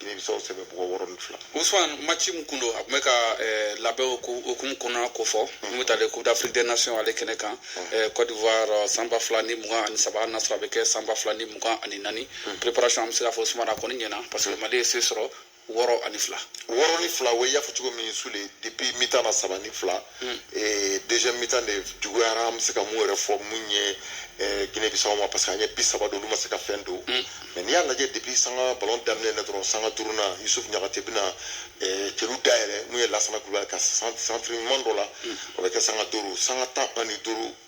Guinée Bissau sɛbɛ bugɔ wɔɔrɔ ni fila. Ousmane match min kun don a tun bɛ ka eh, labɛn o ko- hukumu kɔnɔna ko fɔ n bɛ taa le coupe d'afrique des nations ale kɛnɛ kan eh, cote d'ivoire eh, san ba fila ni mugan ani saba n'a sɔrɔ a bɛ kɛ san ba fila ni mugan ani naani préparation an bɛ se k'a fɔ Ousmane a kɔni ɲɛna parce que mali ye se sɔrɔ wɔɔrɔ ani fila wɔɔrɔ ni fila o y'a fɔ cogo min sule depuis mitan na saba ni fila hmm. eh, deuxième mitan de juguyara an bɛ se ka mun yɛrɛ fɔ mun ye eh, guinée bissau ma parce que an ye bi saba don olu ma se ka fɛn don hmm. mais n'i y'a lajɛ depuis sanga ballon daminɛ na dɔrɔn sanga duurunan yusuf ɲagate bɛna eh, celu dayɛlɛ mun ye lasana kulubali ka centre ɲuman dɔ la hmm. o bɛ kɛ sanga duuru sanga tan ani duuru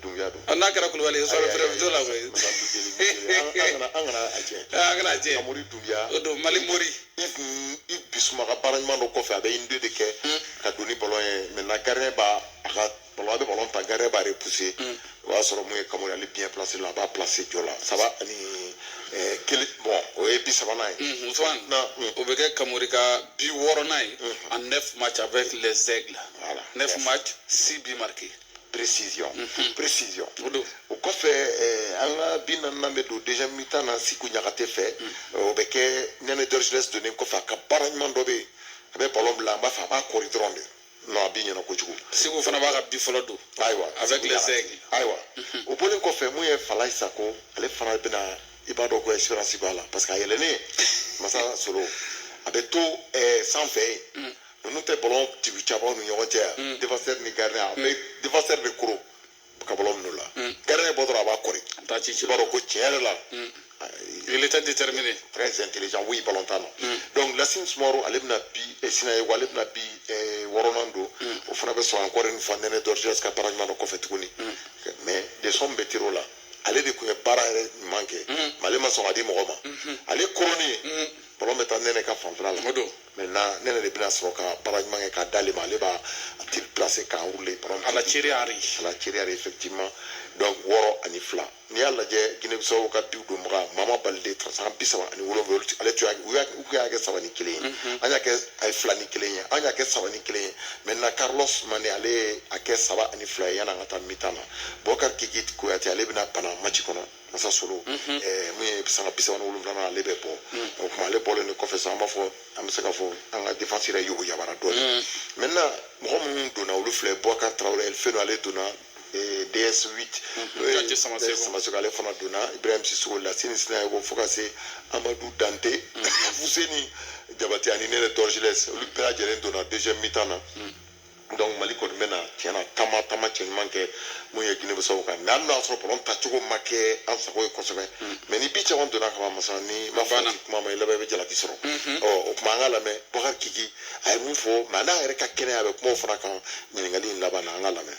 dumbiya don a n'a kɛra kulubali ye sɔrɔ fɛrɛ to la koyi an kana a jɛ an kana a jɛ kamori dumbiya don mali mori ivu bisuma ka baara ɲuman dɔ kɔfɛ a bɛ un-deux de kɛ ka don ni ballon ye maintenant gardien b'a a ka ballon a bɛ ballon ta gardien b'a repousser o y'a sɔrɔ mun ye kamori ale bien placé là a b'a placer jɔ la saba ani kelen bon o ye bi sabanan ye ousmane o bɛ kɛ kamori ka bi wɔɔrɔnan ye en neuf match avec les aigles voilà neuf match six buts marqués précision mhm. précision o kɔfɛ eh, an ka bi naaninan bɛ don déjà mitan na siku ɲagate fɛ mhm. eh, o bɛ kɛ nɛnɛ dɔrjilɛs donnen kɔfɛ a ka baara ɲuman dɔ bɛ yen a bɛ ballon bila an b'a fɛ a b'a kɔri dɔrɔn de non a bi ɲɛna kojugu siku fana b'a ka bi fɔlɔ don ayiwa avec les aigles ayiwa mhm. o bɔlen kɔfɛ mun ye falayi sako ale fana bɛna i b'a dɔn ko expérience b'a la parce que a yɛlɛnnen masa solo a bɛ to eh, sanfɛ yen ninnu tɛ ballon tibi cabaw ni ɲɔgɔn cɛ yan mm. defasɛri ni garidɛ a bɛ defasɛri de koro ka ballon minɛ u la mm. garidɛ bɔ dɔrɔn a b'a kɔri a b'a ci i b'a dɔn ko tiɲɛ yɛrɛ la mm. il était déterminé très intelligent oui ballon tan donc Lassine Soumaoro ale bɛna bi eh, Sinayoko ale bɛna bi eh, wɔɔrɔnan don o fana bɛ sɔrɔ encore une fois Nene Dorgeles ka baara ɲuman dɔ kɔfɛ tuguni mais des sommes bɛ tiro la ale de tun ye baara yɛrɛ ɲuman kɛ mais ale ma sɔn ka di mɔgɔ ma ale koronnen ballon bɛ taa Nene ka fanfɛla la maintenant nɛnɛ de bɛna sɔrɔ ka baara ɲuman kɛ k'a d'ale ma ale b'a a ti placer k'a enrouler à la thierry henry à la thierry henry effectivement donc wɔɔrɔ ani fila n'i y'a lajɛ guinée bissau ka biw donbaga mama balide sanga bi saba ani wolonwula ale tun y'a u tun y'a kɛ saba ni kelen ye mhm. an y'a kɛ a ye fila ni kelen ye an y'a kɛ saba ni kelen ye maintenant carlos mane ale ye a kɛ saba ani fila ye yan'an ka taa mitan na bɔkari kiki kuyate ale bɛna bana match kɔnɔ masa solo mun ye sanga bi saba ni wolonwula ale bɛ bɔ o tuma ale bɔlen de kɔfɛ sisan an b'a fɔ an bɛ se ka fɔ an ka defasi yɛrɛ yogo yabara dɔɔnin maintenant mɔgɔ minnu donna olu filɛ bɔkari tarawele fɛn ale donna ds 8 samaseku ale fana donna ibrahim sisoko lasini sinayɔkɔ fo ka se amadu dante fuseni jabati ani nɛnɛ dɔrjilɛs olu bɛɛ lajɛlen donna deuxième mi-temps na donc mali kɔni bɛna tiɲɛna taama taama cɛ ɲuman kɛ mun ye guinée bissau kan mais hali n'a sɔrɔ balɔn tancogo ma kɛ an sago ye kosɛbɛ mais ni bi caman donna kaban masa ni ma fɔ k'i kuma ma i laban i bɛ jalaki sɔrɔ ɔ o tuma an ka lamɛn boubacar kiki a ye mun fɔ a ma n'a yɛrɛ ka kɛnɛya a bɛ kuma o fana kan ɲininkali in laban na an ka lamɛn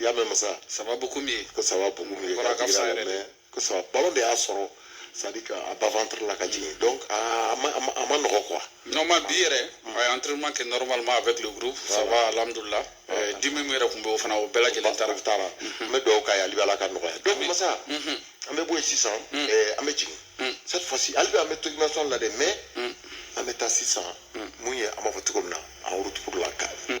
i y'a mɛn masa ça va beaucoup mieux ko ça va beaucoup mieux ka jigira la mais ko ça va ballon de y'a sɔrɔ c'est-à-dire a bas ventre la ka jigin donc a ma a ma nɔgɔ quoi non mais bi yɛrɛ a ye entraînement kɛ normalement avec le groupe ça va alhamdulillah euh, dimi min yɛrɛ tun bɛ o fana o bɛɛ lajɛlen taara taara an bɛ dugawu k'a ye hali bi ala ka nɔgɔya donc masa an bɛ bɔ yen sisan an bɛ jigin cette fois ci hali bi an bɛ to dimension la dɛ mais an bɛ taa sisan mun ye an b'a fɔ cogo min na en route pour la CAN